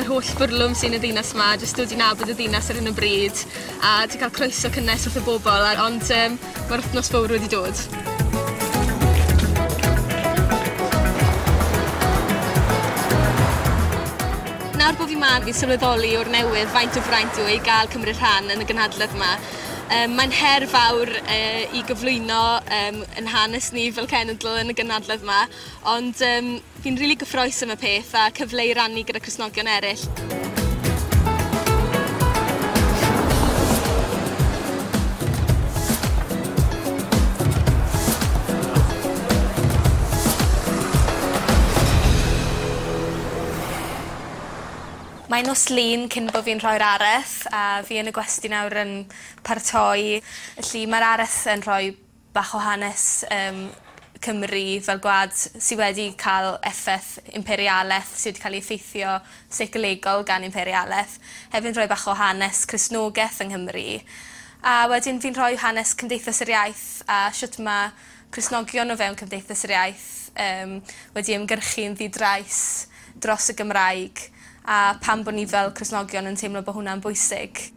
yr holl bwrlwm sy yn y ddinas 'ma jyst dod i nabod y ddinas ar hyn o bryd a ti ca'l croeso cynnes wrth y bobol a ond yym ma'r wthnos fowr wedi dod. Nawr bo' fi 'ma fi'n sylweddoli o'r newydd faint o fraint yw e i ga'l cymryd rhan yn y gynhadledd 'ma. Yym mae'n her fawr yy i gyflwyno yym 'yn hanes ni fel cenedl yn y gynhadledd 'ma ond yym Fi'n rili gyffroes am y peth a cyfle i rannu gyda Cristnogion eraill. Mae nos Lun cyn bo fi'n rhoi'r areth a fi yn y gwesty nawr yn paratoi felly ma'r areth yn rhoi bach o hanes yym Cymru fel gwlad sy wedi ca'l effeth imperialeth sy 'di ca'l 'i effeithio seicolegol gan imperialeth. Hefyd rhoi bach o hanes Cristnogeth yng Nghymru. A wedyn fi'n rhoi hanes Cymdeithas yr Iaith a shwt ma' Cristnogion o fewn Cymdeithas yr Iaith yym wedi ymgyrchu'n ddi-drais dros y Gymraeg a pam bo' ni fel Cristnogion yn teimlo bo' hwnna'n bwysig.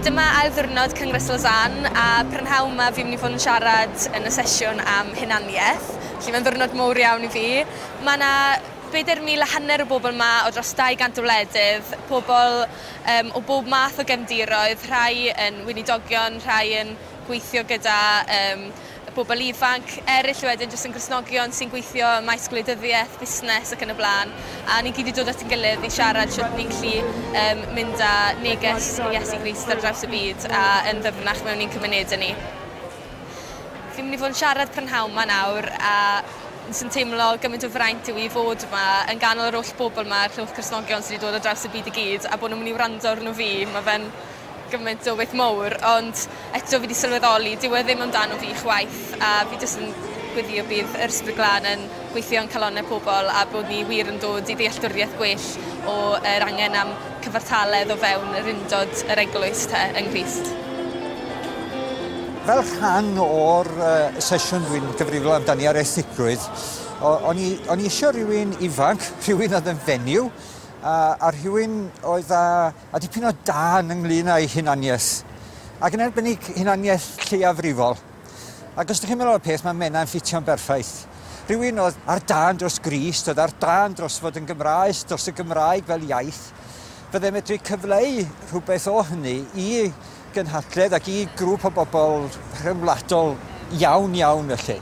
Dyma ail ddiwrnod Cyngres Lausanne a prynhawn 'ma fi'n mynd i fod yn siarad yn y sesiwn am hunaniaeth. Felly mae'n ddiwrnod mowr iawn i fi. Mae 'na bedair mil a hanner o bobl 'ma o dros 200 o wledydd, pobl yym o bob math o gefndiroedd, rhai yn weinidogion, rhai yn gweithio gyda yym y bobl ifanc, eryll wedyn jyst yn Gristnogion sy'n gweithio ym maes gwleidyddiaeth, busnes ac yn y blaen, a ni gyd 'di dod at ein gilydd i siarad shwt ni'n gallu yym mynd â neges Iesu Grist ar draws y byd a yn ddyfnach mewn i'n cymunedau ni. Fi'n mynd i fod yn siarad prynhawn 'ma nawr a sy'n teimlo gymaint o fraint yw i fod yma yn ganol yr oll bobl 'ma, clwch Cristnogion sy' 'di dod o draws y byd i gyd a bod nhw'n mynd i wrando arno fi, ma' fe'n gymaint o beth mowr ond eto fi 'di sylweddoli dyw e ddim amdano fi chwaith a fi jyst yn gweddio bydd yr Ysbryd Glân yn gweithio yn calonnau pobl a bod ni wir yn dod i ddealltwriaeth gwell o yr angen am Cyfartaledd o fewn yr undod yr Eglwys te, yng Nghrist. Fel rhan o'r sesiwn dwi'n gyfrifol amdani ar erthigrwydd, o'n i, o'n i isio rhywun ifanc, rhywun oedd yn fenyw, a, a rhywun oedd â, a dipyn o dân ynglyn â'i hunaniaeth, ac yn arbennig hunaniaeth lleiafrifol. Ac os dych chi'n meddwl am y peth, mae Menna yn ffitio'n berffaith. Rhywun oedd ar dân dros Grist, oedd ar dân dros fod yn Gymraes, dros y Gymraeg fel iaith. Byddai medru cyfleu rhywbeth o hynny i gynhadledd ac i grŵp o bobl rhyngwladol iawn iawn felly.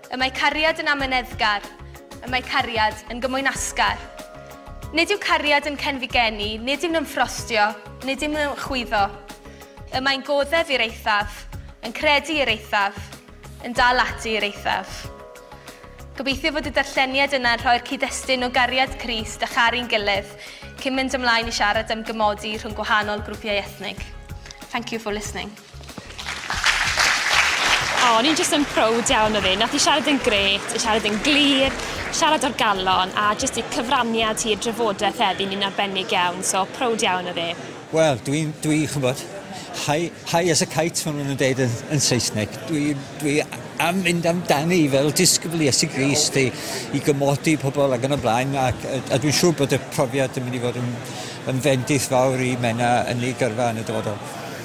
Y mae cariad yn amyneddgar. Y mae cariad yn gymwynasgar. Nid yw cariad yn cenfigennu, nid yw'n ymffrostio, nid yw'n ymchwyddo. Y mae'n goddef i'r eithaf, yn credu i'r eithaf, yn dal ati i'r eithaf. Gobeithio fod y darlleniad yna yn rhoi'r cyd-destun o gariad Crist a charu'n gilydd cyn mynd ymlaen i siarad am gymodi rhwng gwahanol grwpiau ethnig. Thank you for listening. O, o'n i'n jyst yn prowd iawn o fi. Nath i siarad yn gret, i siarad yn glir, siarad o'r galon, a jyst i cyfraniad hi i'r drafodaeth heddi, ni'n arbennig iawn, so prowd iawn o fi. Wel, dwi, dwi, ch'mbod, high, high as a kite, fel ma' nhw'n deud yn, yn Saesneg. Dwi, dwi am mynd amdani fel disgybl Iesu Grist i, i gymodi pobl ac yn y blaen, ac, a, a dwi'n siŵr bod y profiad yn mynd i fod yn, yn fendith fawr i Menna yn ei gyrfa yn y dyfodol.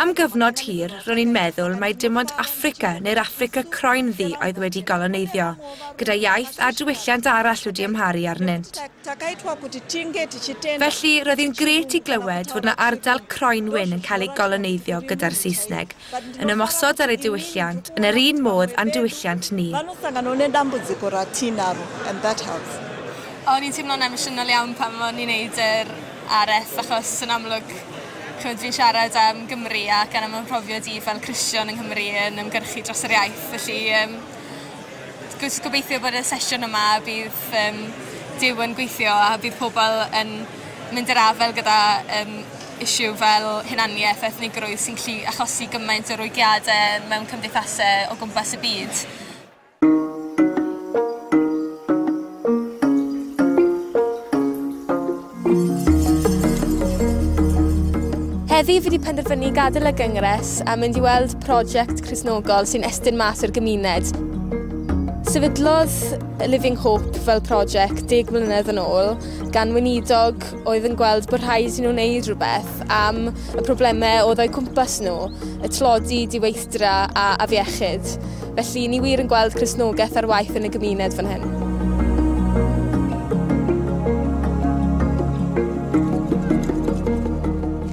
Am gyfnod hir, ro'n i'n meddwl mai dim ond Affrica neu'r Affrica croen ddu oedd wedi goloneiddio, gyda iaith a diwylliant arall wedi ymharu arnynt. Felly, roedd hi'n gret i glywed fod yna ardal croen wyn yn cael ei goloneiddio gyda'r Saesneg, yn ymosod ar ei diwylliant, yn yr un modd a'n diwylliant ni. O'n i'n teimlo'n emosiynol iawn pan o'n i'n neud yr RF achos yn amlwg ch'mod fi'n siarad am Gymru ac yn amlwg mhrofiad i fel Cristion yng Nghymru yn ymgyrchu dros yr iaith felly yym jyst gobeithio bod y sesiwn yma bydd yym Duw yn gweithio a bydd pobl yn mynd i'r afael gyda yym issue fel hunaniaeth a ethnigrwydd sy'n gallu achosi gymaint o rwygiade mewn cymdeithase o gwmpas y byd. Heddi fi wedi penderfynu gadael y gyngres a mynd i weld prosiect Cresnogol sy'n estyn mas o'r gymuned. Sefydlodd Living Hope fel prosiect deg mlynedd yn ôl gan weinidog oedd yn gweld bod rhaid i nhw wneud rhywbeth am y problemau oedd o'i cwmpas nhw, y tlodi, diweithdra a afiechyd. Felly, ni wir yn gweld Cristnogaeth ar waith yn y gymuned fan hyn.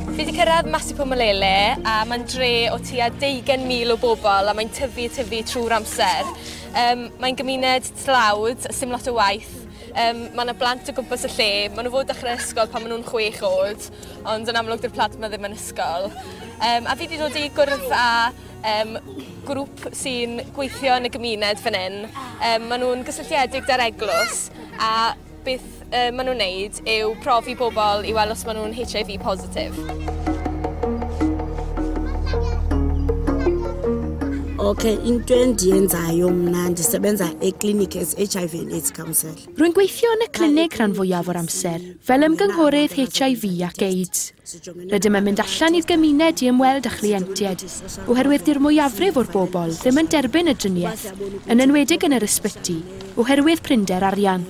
Fi wedi cyrraedd Masipo Malele a mae'n dre o tua 20,000 o bobl a mae'n tyfu a tyfu trwy'r amser. Um, mae'n gymuned tlawd, sy'n lot o waith, Um, mae yna blant o gwmpas y lle, maen nhw fod dechrau ysgol pan maen nhw'n chwech oed, ond yn amlwg dy'r plant yma ddim yn ysgol. Um, a fi wedi dod i gwrdd â um, grŵp sy'n gweithio yn y gymuned fan hyn. Um, maen nhw'n gysylltiedig da'r eglwys a beth uh, maen nhw'n neud yw profi bobl i weld os maen nhw'n HIV positif. Okay, in 20 yenza yomna ndisebenza eclinic as HIV and AIDS counsel. Rwy'n gweithio yn y clinig rhan fwyaf o'r amser, fel ymgynghorydd HIV ac AIDS. Rydym yn mynd allan i'r gymuned i ymweld â chlientiaid, oherwydd dy'r mwyafrif o'r bobl ddim yn derbyn y driniaeth, yn enwedig yn yr ysbyty, oherwydd prinder arian.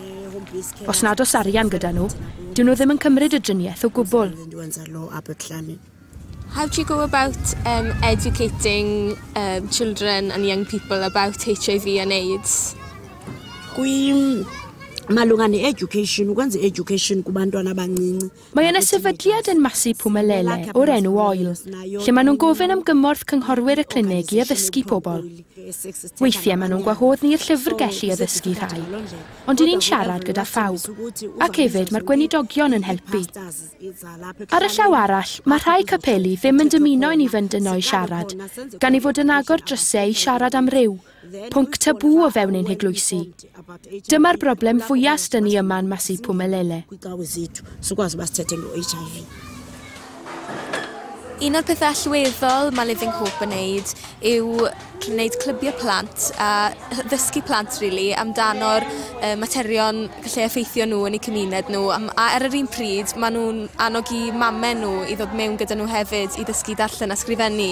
Os nad oes arian gyda nhw, dyw nhw ddim yn cymryd y driniaeth o gwbl. How do you go about um, educating um, children and young people about HIV and AIDS? Kwi malunga ne-education ukwenza i-education kubantwana abancinci Mae yna sefydliad yn Masi Pumelele o'r enw Oil, lle maen nhw'n gofyn am gymorth cynghorwyr y clinig i addysgu pobl. Weithiau maen nhw'n gwahodd ni i'r llyfrgell i addysgu rhai, ond i ni'n siarad gyda phawb, ac hefyd mae'r gweinidogion yn helpu. Ar y llaw arall, mae rhai capeli ddim yn dymuno i ni fynd yno i siarad, gan ei fod yn agor drysau i siarad am ryw, Pwnc tabŵ o fewn ein heglwysi. Dyma'r broblem fwyaf sdyn ni yma'n Massi Phumelele. Un o'r pethau allweddol mae Living Hope yn neud yw gwneud clybiau plant a ddysgu plant really, amdano'r uh, materion gallu effeithio nhw yn eu cymuned nhw. A ar yr un pryd, maen nhw'n annog i mamau nhw i ddod mewn gyda nhw hefyd i ddysgu darllen a sgrifennu.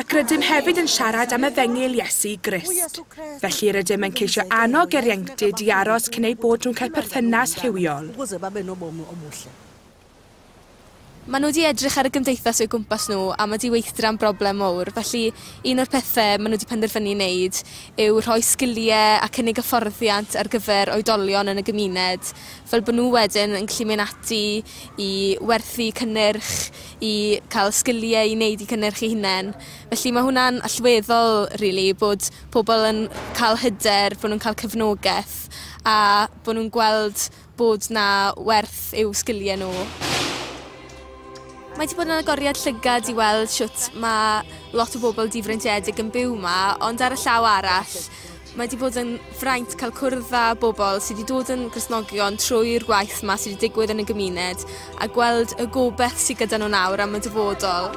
ac rydym hefyd yn siarad am efengyl Iesu Grist. Felly rydym yn ceisio annog yr ieuenctid i aros cyn eu bod nhw'n cael perthynas rhywiol. Maen nhw wedi edrych ar y gymdeithas o'u gwmpas nhw a mae diweithdra yn broblem mawr, felly un o'r pethau maen nhw wedi penderfynu wneud yw rhoi sgiliau a cynnig hyfforddiant ar gyfer oedolion yn y gymuned, fel bod nhw wedyn yn gallu mynd ati i werthu cynnyrch, i cael sgiliau i wneud eu cynnyrch eu hunain. Felly mae hwnna'n allweddol rili bod pobl yn cael hyder, bod nhw'n cael cefnogaeth a bod nhw'n gweld bod 'na werth i'w sgiliau nhw. Mae 'di bod yn agoriad llygad i weld shwt ma' lot o bobl difreintiedig yn byw 'ma ond ar y llaw arall Mae 'di bod yn fraint cael cwrdd â bobl sydd wedi dod yn Gristnogion trwy'r gwaith yma sydd wedi digwydd yn y gymuned a gweld y gobeith sydd gyda nhw nawr am y dyfodol.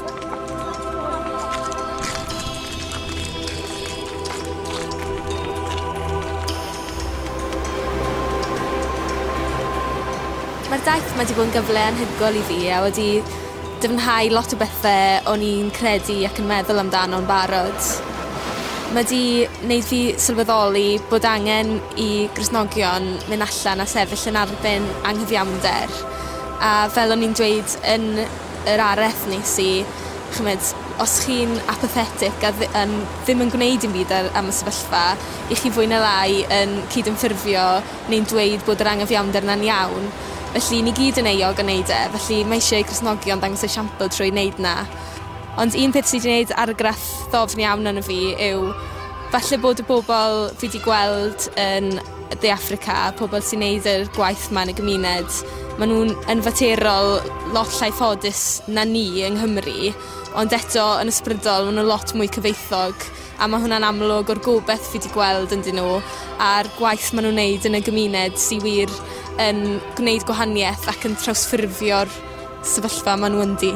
Mae'r daith 'ma 'di bod yn gyfle anhygoel i fi a wedi Dyfnhau lot o bethe o'n i'n credu ac yn meddwl amdano'n barod. Ma' 'di neud fi sylweddoli bod angen i Gristnogion myn' allan a sefyll yn arbyn anghyfiawnder a fel o'n i'n dweud yn yr areth nes i ch'mod os chi'n apathetic a ddi- yym ddim yn gwneud dim byd ar am y sefyllfa 'ych chi fwy ne' lai yn cydymffurfio neu'n dweud bod yr anghyfiawnder 'na'n iawn felly ni gyd yn euog o neud e felly mae eisieu Cristnogion ddangos esiampl trwy neud 'na. Ond un peth sy 'di neud argraff ddofn iawn arno fi yw falle bod y bobol fi 'di gweld yn De Affrica pobol sy'n neud y gwaith 'ma yn y gymuned ma' nw'n yn faterol lot llai ffodus na ni yng Nghymru ond eto yn ysbrydol ma' n'w lot mwy cyfoethog a ma' hwnna'n amlwg o'r gobeth fi 'di gweld ynddyn n'w a'r gwaith ma' nw'n neud yn y gymuned sy wir yn gwneud gwahanieth ac yn trawsffurfio'r sefyllfa ma' n'w ynddi.